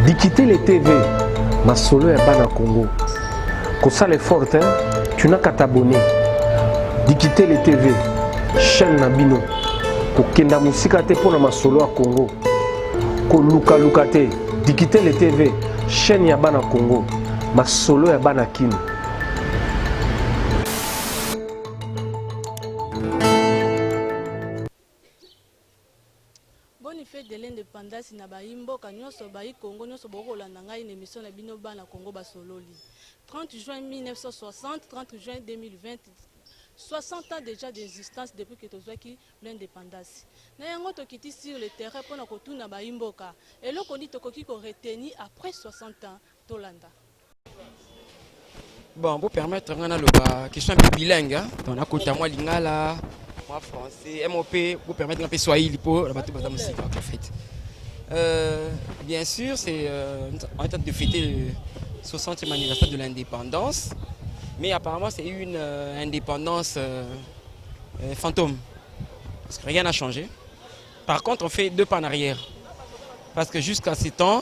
Bikitele TV, masolo ya bana Congo. Kosala effort hein, tu n'as qu'à t'abonner. Bikitele TV, chaîne na bino. Kokenda musika te pona masolo ya Congo. Koluka luka te. Bikitele TV, chaîne ya bana Congo. Masolo ya bana Kin. Bonne fete de l'independance na bayi mboka nionso, bayi Congo nionso bokoki kolanda ngai na emission na bino bana Congo basololi. 30 juin 1960, 30 juin 2020, 60 ans dejà d'existence depuis que tozwaki l'independance. Na yango tokiti sur le terrain pona kotuna bayi mboka, eloko nini tokoki ko retenir après 60 ans Tolanda. Bon, bo permettre nga naloba question mpe bilingue hein? donc nakota mwa lingala mwa français mop bo permettre nga mpe swahili mpo na bato baza mosika en fait euh, bien sûr c'est euh, en train de fêter le 60e anniversaire de l'indépendance mais apparemment c'est une euh, indépendance euh, euh, fantôme parce que rien n'a changé par contre on fait deux pas en arrière parce que jusqu'à ces temps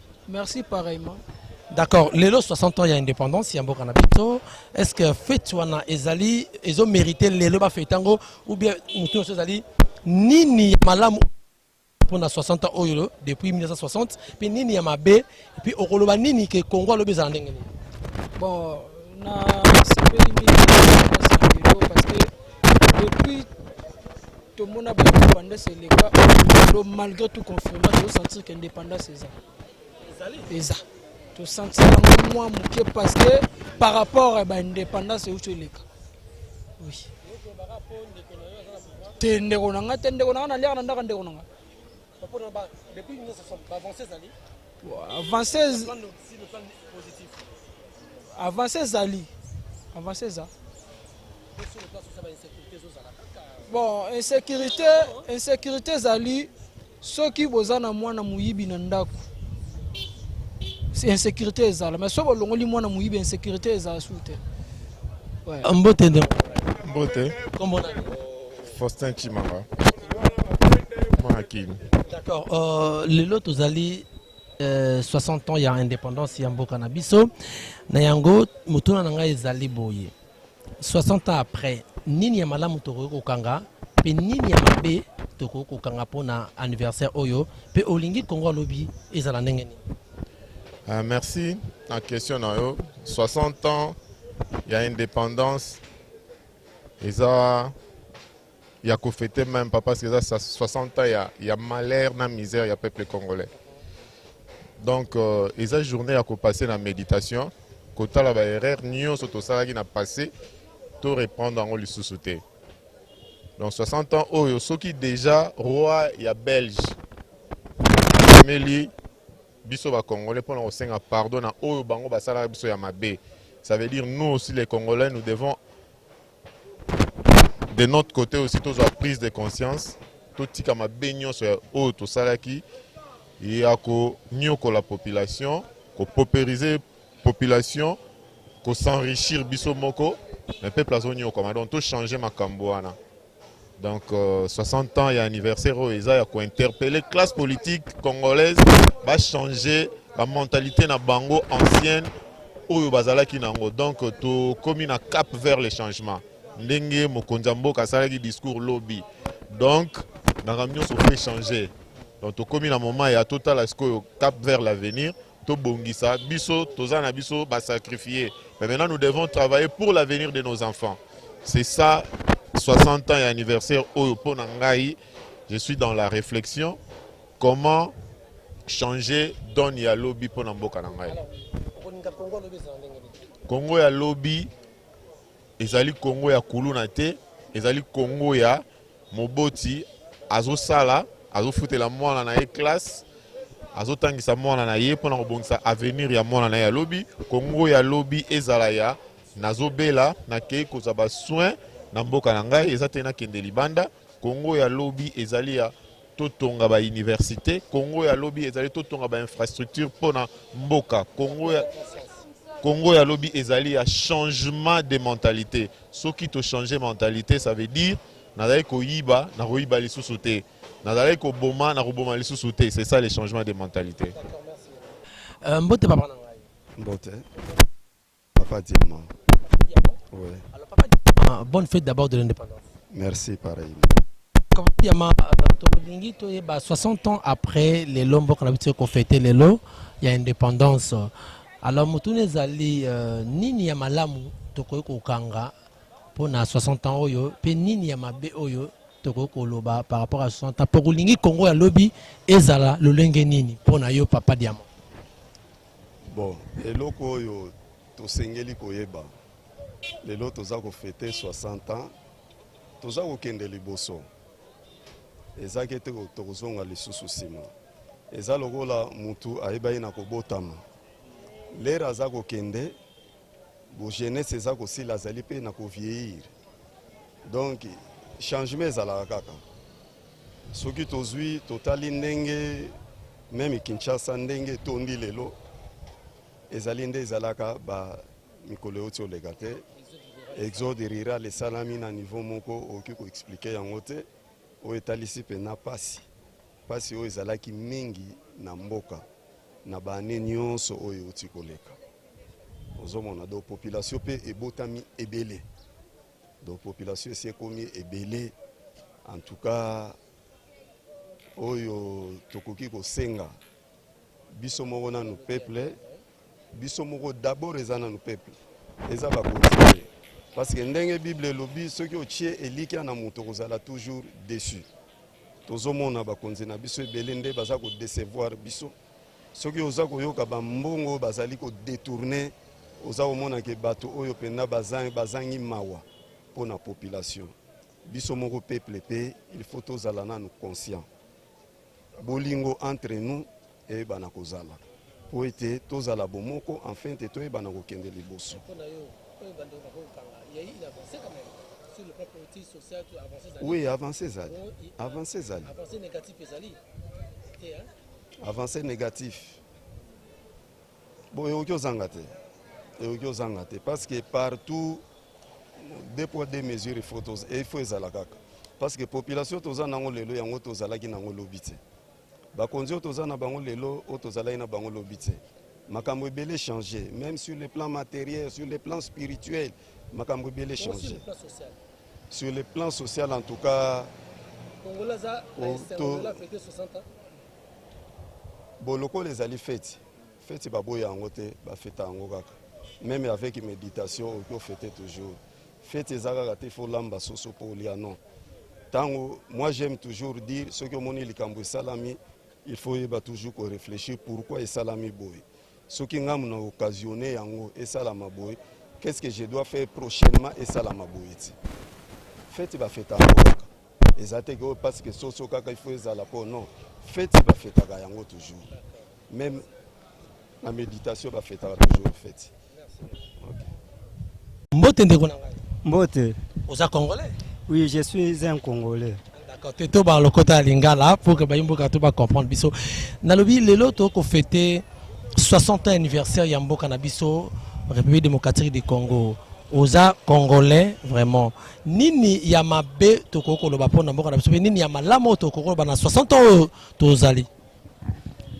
Merci pareillement. D'accord, lelo 60 ans ya indépendance ya mboka na biso, est-ce que fete wana ezali ezo mériter lelo ba fete yango ou bien mutu nyonso ezali nini ya malamu mpo na 60 ans oyo depuis 1960 mpe nini ya mabe mpe okoloba nini ke Congo alobi ezala ndenge nini? Bon, na sepeli mingi na lelo parce que Depuis tomona ba indépendance eleka lelo malgré tout confinement tozosentir ke indépendance eza eza tosentir yango mwa moke parce que par rapport ya ba indépendance euti eleka oui te ndeko na ngai te ndeko na ngai naliaka na ndaka ndeko na ngai avance ezali avance eza bon insécurité insécurité ezali soki boza na mwana moyibi na ndako insécurité ezala mais soki bolongoli mwana moyibi insécurité ezala su te mbote nde mbote Faustin Chimanga. Mwanakini. D'accord. Euh, lelo tozali euh, 60 ans ya indépendance ya mboka na biso. Na yango motuna na ngai ezali boye. 60 ans après, nini ya malamu tokoki kokanga mpe nini ya mabe tokoki kokanga mpo na anniversaire oyo mpe olingi Kongo alobi ezala ndenge nini? Uh, merci na question na yo 60 ans ya indépendance eza ya ko fete meme pas parce que eza 60 ans ya, ya malheur na misère ya peuple congolais donc euh, eza journée ya ko passer na méditation kotala ba erreur nyonso tosalaki na passé to reprendre yango lisusu te donc 60 ans oyo soki déjà roi ya belge ameli biso ba congolais pona kosenga pardon na oyo bango basalaka biso ya mabe ça veut dire nous aussi les congolais nous devons de notre côté aussi tozwa prise de conscience totika mabe nyonso ya oyo tosalaki ya konyokola population kopoperize population kosenrichir biso moko me peuple azonyokwama donc tochange makambo wana Donc 60 euh, ans ya anniversaire oyo eza ya kointerpele classe politique congolaise bachange bamentalité na bango ancienne oyo bazalaki na yango donc tokomi na cap vers le changement ndenge mokonzi ya mboka asalaki discours lobi donc makambo nyonso mpe change donc tokomi na moment ya totala sikoyo cap vers l'avenir tobongisa biso toza na biso ba sacrifier mais maintenant nous devons travailler pour l'avenir de nos enfants c'est ça 60 ans ya anniversaire oyo mpo na ngai je suis dans la réflexion comment changer donne ya lobi mpo na mboka na ngai congo ya lobi Ezali Congo ya kuluna te, ezali Congo ya moboti azosala, azofutela mwana na ye classe, azotangisa mwana na ye mpo na kobongisa avenir ya mwana na ye ya lobi. Congo ya lobi ezala ya nazobela, nakei kozwa basoin na mboka na ngai, eza te nakende libanda. Congo ya lobi ezali ya Totonga ba universite Congo ya lobi ezali totonga ba infrastructure mpo na mboka Congo ya Congo ya lobi ezali ya changement de mentalite. Soki to changer mentalite, ça veut dire nazali koyiba, nakoyiba lisusu te. Nazali koboma, nakoboma lisusu te. C'est ça le changement de mentalite. Euh, mbote papa na ngai. Mbote. Papa Diamant. Diamant. Oui. Alors Papa Diamant, bonne fête d'abord de l'indépendance. Merci pareil. Papa Diamant, euh, tolingi toyeba 60 ans après les lombo qu'on a habitué qu'on fêtait les lots, il y a indépendance. Alors mutune ezali euh, nini ya malamu tokoki kokanga mpo na 60 ans oyo mpe nini ya mabe oyo tokoki koloba par rapport à 60 ans mpo kolingi Congo ya lobi ezala lolenge nini mpo na yo Papa Diamant. Bon, eloko oyo tosengeli koyeba lelo toza kofete 60 ans toza kokende liboso eza ke te tokozonga lisusu nsima eza lokola mutu ayebaki na kobotama lere aza kokende Bo jeunesse eza kosila azali pe na ko vieillir. Donc changement ezalaka kaka. Soki tozwi totali ndenge meme Kinshasa ndenge tondi lelo ezali nde ezalaka ba mikolo euti oleka te exode rural esalami na niveau moko okoki koexplike yango te oyo etalisi mpena mpasi mpasi oyo ezalaki mingi na mboka na baane nyonso oyo euti koleka ozomona donc population mpe ebotami ebele donc population esi ekomi ebele en tout cas oyo tokoki kosenga biso moko nanu peuple biso moko d'abord eza nanu peuple eza bakonzi te parce que ndenge bible elobi soki otie elikya na moto okozala toujours déçu tozomona bakonzi na biso ebele nde baza kodecevoir biso Soki oza koyoka ba mbongo oyo bazali ko detourner, oza komona ke bato oyo mpenza bazangi mawa mpo na population. Biso moko peuple mpe il faut tozala nanu conscient. Bolingo entre nous eyebana kozala mpo ete tozala bomoko enfin te toyebana kokende liboso. Oui, avance ezali. Avance ezali. Avance négatif. Bon, eyoki ozanga te. Eyoki ozanga te parce que partout deux poids deux mesures il faut il faut ezala kaka. Parce que population toza nango lelo yango tozalaki nango lobi te. Bakonzi oyo toza na bango lelo oyo tozalaki na bango lobi te. Makambo ebele changer même sur le plan matériel, sur le plan spirituel, makambo ebele changer. Sur le plan social en tout cas bon lokola ezali feti feti baboya yango te bafeta yango kaka meme avec méditation okoki ofete toujours feti eza kaka te fo olamba soso mpo olia non ntango moi j'aime toujours dire soki omoni likambo esalami il faut oyeba toujours koréfléchir pourquoi esalami boye soki ngai na occasionne yango esalama boye qu'est ce que je dois faire prochainement esalama boye ti feti bafetaka kaka eza te ke parce que soso kaka ifo ezala mpo non feti bafetaka yango toujours même na méditation bafetaka toujours feti okay. mbote ndeko na ngai mbote oza congolais oui je suis un congolais D'accord, te to ba lokota ya lingala pour que bayi mboka to ba comprendre biso. Nalobi lelo to ko fêter 60 ans anniversaire ya mboka na biso République démocratique du Congo. Oza congolais vraiment. Nini ya mabe to ko koloba pona mboka na biso pe nini ya malamu to ko koloba na 60 ans oyo tozali.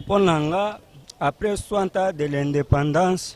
Pona nga après 60 ans de l'indépendance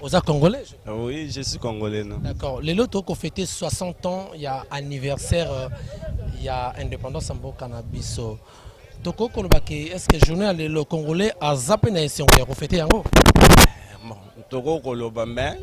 Oza congolais je... Ah oui, je suis congolais. D'accord. Lelo toko fêter 60 ans ya anniversaire euh, ya indépendance en mboka na biso. Toko koloba ke est-ce que journée lelo congolais aza pe na esengo ya ko fêter yango? Eh, toko koloba mais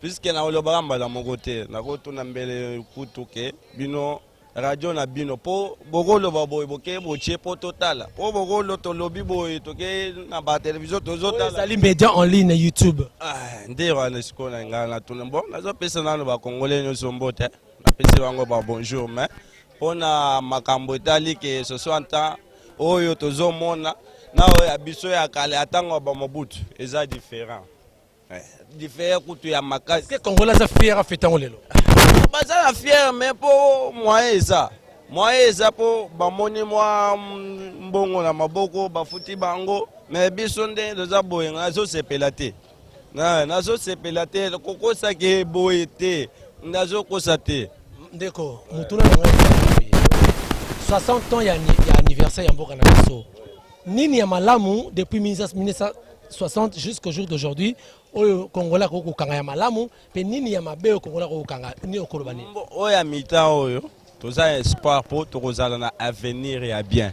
puisque na olobaka mbala moko te nakotuna mbele kutu ke bino radio na bino mpo bokoloba boye boke botie mpo totala mpo bokolo tolobi boye toke na batelevizio tozotalaezali media en ligne youtube ah, nde wana sikoyo na ngai natuna bo nazopesa nano bakongole nyonso mbote napesi bango ba bonjour mais mpo na makambo etali ke ce soit ntan oyo tozomona na oyo ya biso ya kala ya ntango ya bamobutu eza différent Diffère kutu ya makasi. Ke Congolais aza fier a fêtango lelo. Baza na fier mais po moyen eza. Moyen eza po bamoni mwa mbongo na maboko bafuti bango mais biso nde toza boye nga azosepela te. Na nazosepela te kokosa ke boye te. Nazokosa te. Ndeko, motuna na ngai 60 ans ya anniversaire ya mboka na biso. Nini ya malamu depuis 1960 jusqu'au jour d'aujourd'hui oyo Congolais akoki kokanga ya malamu mpe nini ya mabe oyo Congolais akoki kokanga nini okoloba nini? Oyo ya mitan oyo toza ya espoir mpo tokozala na avenir ya bien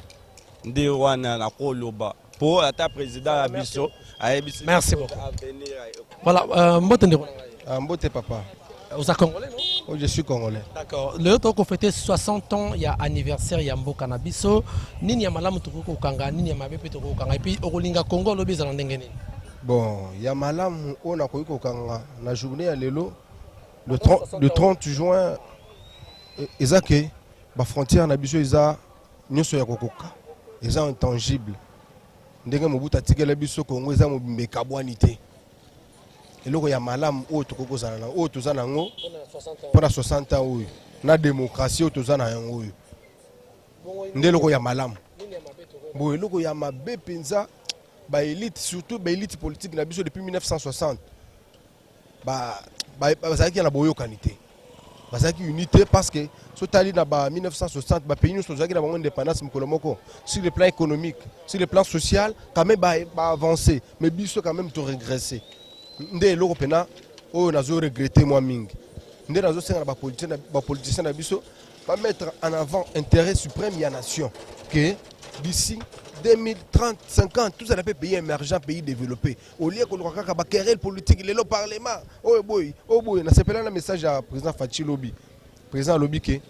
nde wana nakoloba mpo ata président ya biso ayebisi avenir Voilà, euh, mbote ndeko. Ah, mbote papa. Euh, oza congolais non? Oh, je suis congolais. D'accord. Leo toko fêter 60 ans ya anniversaire ya mboka na biso. Nini ya malamu toko kokanga, nini ya mabe pe toko kokanga. Et puis okolinga Congo lobi ezala ndenge nini? Bon, ya malamu oyo nakoki kokanga na journée ya lelo le 30, le 30 juin e, eza ke ba frontières na biso eza nyonso ya kokoka eza intangible Ndenge Mobutu atikela biso Congo eza mobimba ekabwani te. Eloko ya malamu oyo tokoki kozala na oyo toza na yango mpo na 60 ans oyo na demokrasi oyo toza na yango oyo nde eloko ya malamu. Bo eloko ya mabe mpenza ba elite surtout ba elite politique na biso depuis 1960 bazalaki ba, na boyokani te bazalaki unité parce que sotali na ba 1960 ba pays nyonso ozalaki na bango indépendance mokolo moko sur le plan économique sur le plan social quand même ba, ba avancer mais biso quand même to regresser nde eloko pena oyo nazo regretter moi mingi nde nazo senga na ba politiciens ba politiciens na biso ba mettre en avant intérêt suprême ya nation que d'ici 2030, 50, tout ça n'a pas pays émergent, pays développé. Au lieu koluka kaka ba querelle politique lelo parlement oyo boyi oyo boyi na sepela na message ya président Fatshi lobi président alobi ke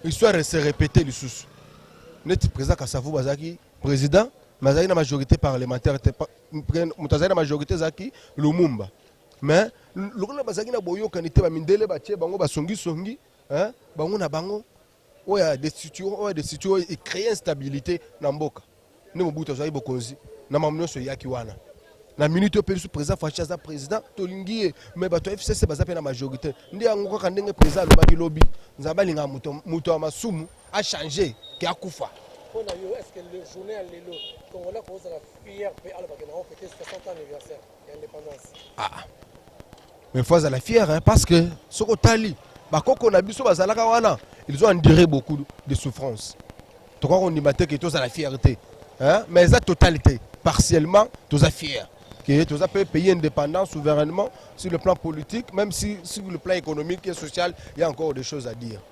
histoire se répéter lisusu neti président Kasavu bazaki président mais azali na majorité parlementaire te moto azali na majorité ezalaki Lumumba mais lokola bazalaki na boyokani te bamindele batie bango basongisongi bango na bango oyo ya destitution oyo ya destitution oyo e créer instabilité na mboka nde Mobutu azwaki bokonzi na mamu nyonso eyaki wana na minute oyo biso président Fashi aza président tolingi ye mais bato ya FCC baza mpe na majorité nde yango kaka ndenge président alobaki lobi nzambe alingaka moto moto ya masumu achange ke akufa mpo na yo est ce que le journée ya lelo congolais kozala fier mpe alobake na yango fete 60 anniversaire ah, ah. mais faut azala fière hein, parce que soki otali bakoko na biso bazalaka wana ils ont enduré beaucoup de souffrance tokoki kondima te ke tozala fière te hein? mais eza totalité partiellement toza fière que tous un pays indépendant souverainement sur le plan politique, même si sur le plan économique et social, il y a encore des choses à dire.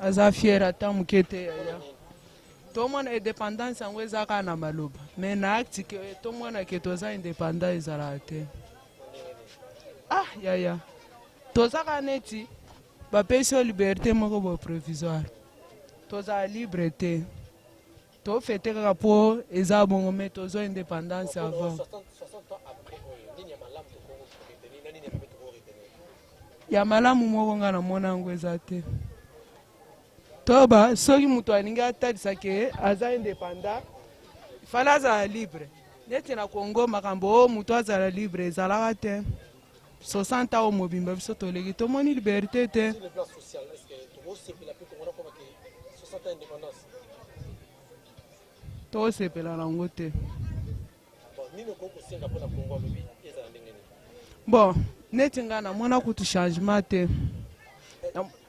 aza fier ata moke te yaya tomona independance yango eza kaka na maloba me na acte ke tomona ke toza independant ezalaka te ah yaya toza kaka neti bapesi yo liberté moko boye provisoire tozala libre te To fete kaka po eza bongo mais tozua independance avant. Ya malamu moko nga namona yango eza te. Toba soki moto alingi atalisa ke aza independant fala azala libre. Neti na Congo makambo o oh, moto azala libre ezalaka te. 60 ans mobimba biso toleki tomoni liberté te tosepela nango te bon neti ngai namona kutu changement te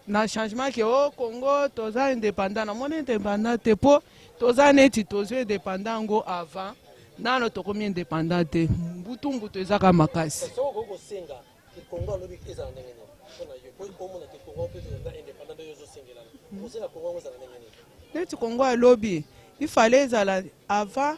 na changement ke o oh, Congo toza independant na moni independant te po toza neti tozwi independant yango avant nano tokomi independant te mbutu mbutu ezaka makasi neti kongo alobi ifale ezala avant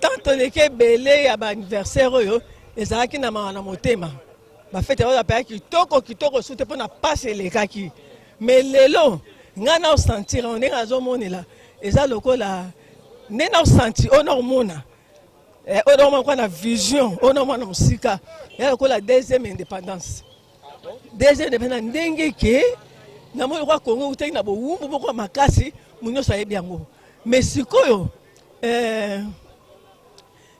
Tant toleki ebele ya ba anniversaire oyo ezalaki na mawa na motema bafete yango bapeka kitoko kitoko su te mpo na mpasi elekaki me lelo ngai naosantira yango ndenge nazomonela eza lokola nde naosanti oyo naomona eh, oyo naomona kwa na vision oyo naomona mosika ya lokola deuxième indépendance deuxième indépendance ndenge ke namoni kwa kongo utaki na bowumbu moko ya makasi mo nyonso ayebi yango me sikoyo eh,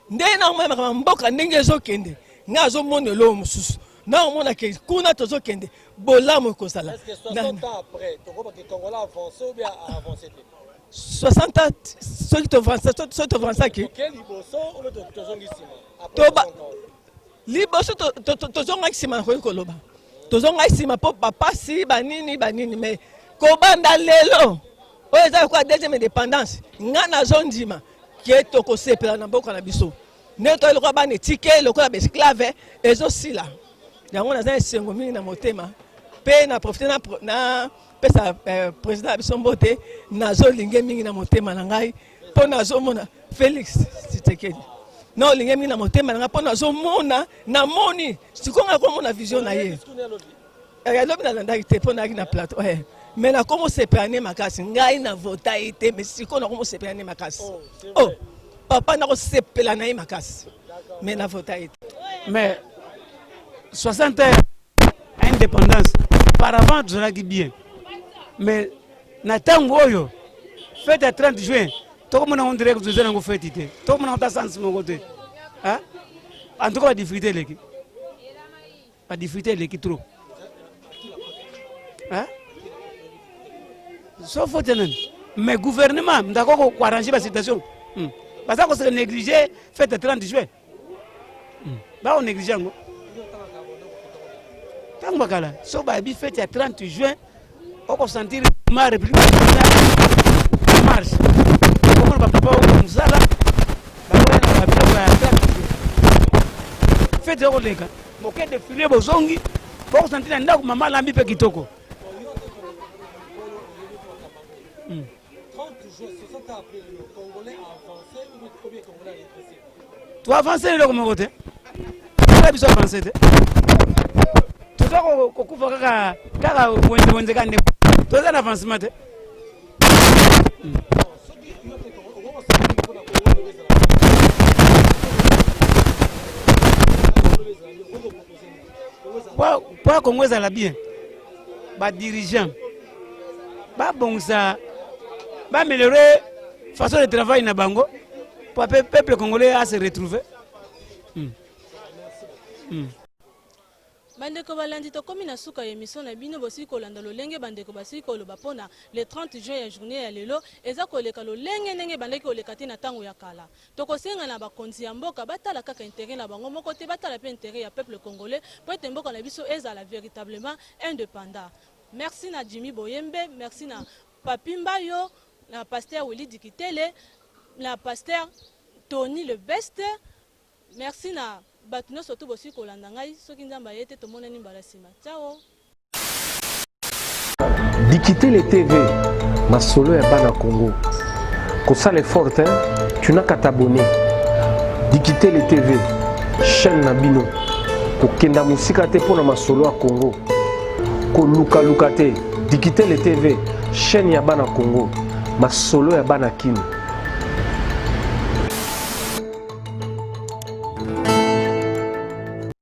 ndenge nakomonaka na mboka ndenge ezokende ngai azomona eloo mosusu naomona ke kuna tozokende bolamu ekozala 60 ans soki tovansaki liboso tozongaki nsima nakoki koloba tozongaki nsima mpo bapasi banini banini mai kobanda lelo oyo eza lokola deuxième indépendance nga nazondima ke tokosepela na mboka na biso nde toye lokola bana etike lokola baesclave ezosila yango naza esengo mingi na motema mpe na profite napesa eh, président ya biso mbote nazolinge mingi na motema na ngai mpo nazomona félix tshisekedi na olinge mingi na motema na ngai mpo nazomona namoni sikonga komona vision na ye Eh, ya lobi nalandaki te mpo nayaki na plateau eh. me nakomosepela nde makasi ngai na vota ye te me sikoyo nakomosepela nde makasi oh, oh papa nakosepela na ye makasi me na vota ye te mais 60 heures indépendance paravant tozalaki bien mais na ntango oyo fete ya 30 juin tokomona ngo ndirek toza nango fete te tokomona ngo ta sansi moko te en tout cas badifficulté eleki Ba difficultés eleki trop. Hein? Sauf faute nani? Mais gouvernement ndako ko ko arranger ba situation. Hmm. Baza ko se négliger fête 30 juin. Hmm. Ba on négliger yango. Tango bakala, so ba bi fête ya 30 juin oko sentir ma république marche okomona bapapa oko mosala bakoya na babiloko ya kati fete okoleka moke defile bozongi bokosentir na ndako mama alambi mpe kitoko hmm. To avancer eloko moko te. Tala biso avancer te. Toza kokufa kaka kaka wenze wenze kaka ndeko. Toza na avancement te. mpo ya kongo ezala bien badirigant babongisa bameliore façon de travail na bango mpo ape peuple congolais a se retrouver mm. Mm. bandeko balandi tokomi na suka ya emission na bino bosili kolanda lolenge bandeko basili koloba mpo na le 30 juin ya journée ya lelo eza koleka lolenge ndenge ebandaki koleka te na ntango ya kala Tokosenga na bakonzi ya mboka batala kaka interet na bango moko te, batala pe interet ya peuple congolais po ete mboka na biso ezala veritablement independant. Merci na Jimmy Boyembe, merci na Papy Mbayo, na Pasteur Willy Dikitele, na Pasteur Tony le best, merci na batu nionso tout bosili kolanda ngai, soki Nzambe aye te tomonani mbala sima. Ciao. Dikitele TV, masolo ya bana Congo. Kosala effort hein, tu n'as qu'à t'abonner. Dikitele TV, chaîne na bino. Kokenda mosika te mpo na masolo ya Congo. Kolukaluka te. Dikitele TV, chaîne ya bana Congo. Masolo ya bana Kin.